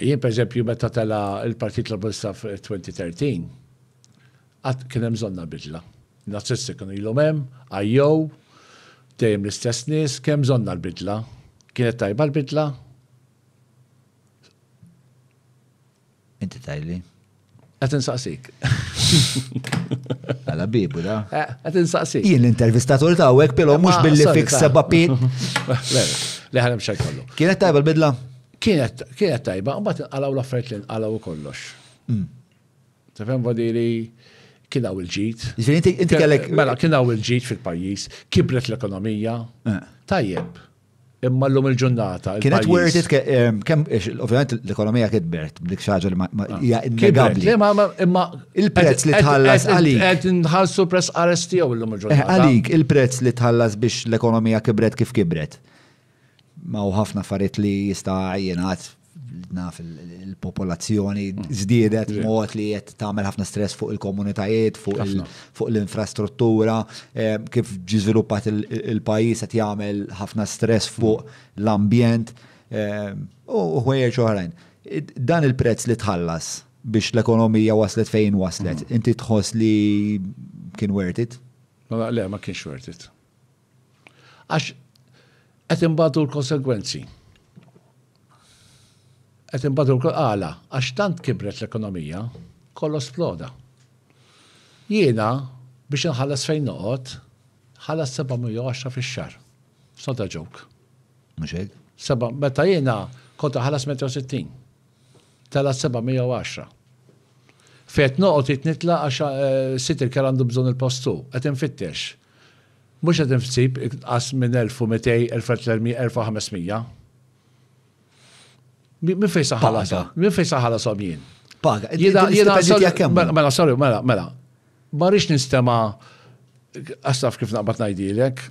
Jien pereżempju meta tela' l-Partit Laburista f'2013, qatt kien hemm bżonn għal bidla. In-Nazisti kienu ilhom hemm, għajjew, dejjem l-istess nies, kien hemm bżonn għal bidla. Kienet tajba l-bidla? Inti tgħidli. Għat insaqsik. Għala bibu da. Eh, għat insaqsik. Jien l-intervistatur ta' għek, pero mux billi fik seba pit. Le ħanem xaj kollu. Kienet tajba l-bidla? Kienet tajba, un bat għalaw l-affarijiet għalaw kollox. Mm. Tafem vadiri kien hawn il-ġid. Inti kellek. Mela, kien hawn il-ġid fil-pajjiż, kibret l-ekonomija. Eh. Tajjeb. Imma l-lum il-ġurnata. Kienet worth it, ehm, kem, ovvijament l-ekonomija kitbert, blik xaġa li ma hija innegabli. Imma il-prezz li tħallas għalik. Għed nħalsu press arrest tiegħu l-lum eh, il-ġurnata. Għalik, il-prezz li tħallas biex l-ekonomija kibret kif kibret. Ma u ħafna affarijiet li jista' jingħad naf il-popolazzjoni żdiedet mod li qed tagħmel ħafna stress fuq il-komunitajiet, fuq l-infrastruttura, eh, kif ġiżviluppat il-pajjiż qed jagħmel ħafna stress fuq l-ambjent eh, u ħwejjeġ oħrajn. Dan il-prezz li tħallas biex l-ekonomija waslet fejn waslet, mm. inti tħoss li kien worth it? Ma le, ma kienx worth it. Għax qed imbagħtu l-konsegwenzi. Qed imbagħtu għala għax tant kibret l-ekonomija kollox sploda. Jiena biex inħallas fejn noqgħod ħallas 710 fix-xahar. Sota ġok. Mhux hekk? Seba' meta jiena kont ħallas 160. Tela 710. Fejt noqgħod jitnitla għax eh, sit il-kel għandu bżonn il-postu, qed infittex. Mhux qed insib inqas minn 1200, 1300, 1500. Min fejn sa ħalashom? Min fejn sa ħalashom jien? Paga. Jiena jiena mela, mela, sorry, mela, mela. Ma rix nistema' għastaf kif naqbad ngħidilek,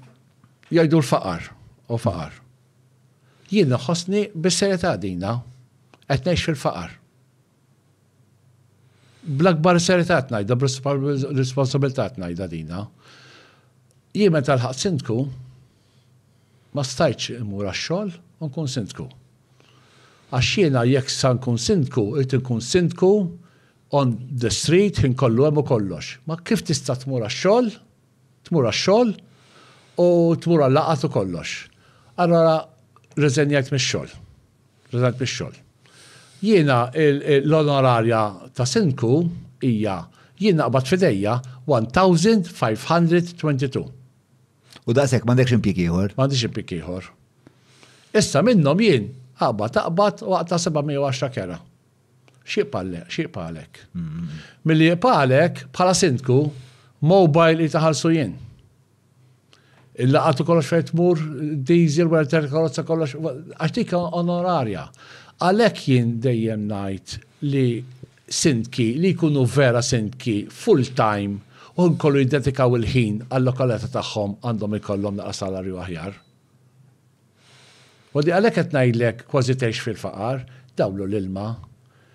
jgħidu l-faqar u faqar. Jien naħosni bis-serjetà dina qed ngħix fil-faqar. Bl-akbar serità tnajda, b'responsabilità tnajda dina. Jien meta l-ħaq sindku, ma stajtx immur għax-xogħol u nkun sindku. Għax jiena jekk sa nkun sindku, irid inkun sindku on the street ħin kollu hemm u kollox. Ma kif tista' tmur għax-xogħol, tmur għax-xogħol u tmur għal-laqgħat u kollox. Allura rriżenjajt mix-xogħol. President Pixxol. Jiena l-onorarja ta' Sindku hija jien naqbad fidejja 1522. U daqshekk m'għandekx impjieg ieħor? M'għandix impjieg ieħor. Issa minnhom jien aqbad aqbad u aqta' 710 kera. X'jiqbgħalek? Mm. Milli jiqbgħalek bħala sindku mobile li taħallsu jien. Il-laqat u kollox fejn tmur, diesel, wara ter karozza kollox, għax dik onorarja. Għalhekk jien dejjem ngħid li sindki li jkunu vera sindki full time u nkollu jiddedikaw il-ħin għal-lokalita tagħhom għandhom ikollhom naqra salarju aħjar. Għodd għalhekk qed ngħidlek kważi tgħix fil-faqar, dawlu l-ilma.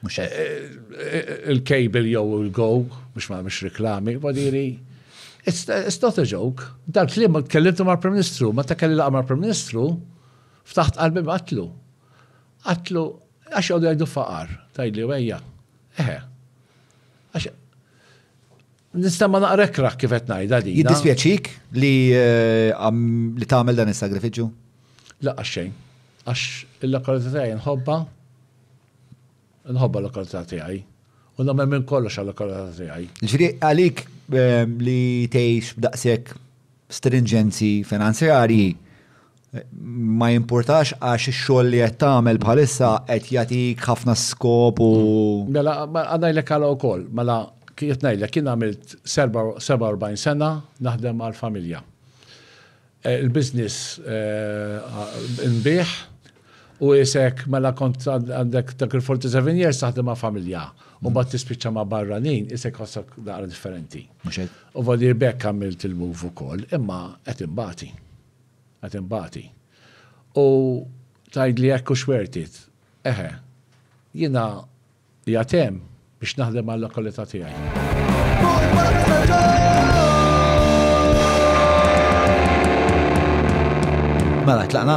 Mhux hekk. Il-cable jew il-go, biex ma nagħmilx reklami, wadiri. It's not a joke. Dal-kliem tkellimtu mal-Prim Ministru, meta kelli laqa mal-Prim Ministru, ftaħt qalbi qatlu. Qatlu, għax jgħidu faqar, tgħidli wejja. Eħe. Nista' ma naqra kraħ kif qed ngħidha din. Jiddispjaċik li li tagħmel dan is-sagrifiċċju? Laqgħa xejn. Għax il-lokalità tiegħi nħobba nħobba l-lokalità tiegħi. U nagħmel minn kollox għal-lokalità tiegħi. Ġri għalik ehm, li tgħix b'daqshekk stringenzi finanzjarji ma jimpurtax għax ix-xogħol li qed tagħmel bħalissa qed jagħtik ħafna skop u. Mela, għanajdlek għala wkoll, mela qed ngħidlek kien għamilt 47 sena naħdem għal familja. Eh, il-business eh, nbih u jisek mela kont għandek dak il-47 years taħdem ma' familja. U bat tispiċċa ma' barranin, jisek ħossak daqra differenti. U vadi bekk għamilt il-move ukoll, imma qed imbati. Qed inbati. U tgħidli hekk u xwertit. Eħe. Jiena qiegħed hemm biex naħdem għal-lokalità tiegħi. Mela, tlaqna?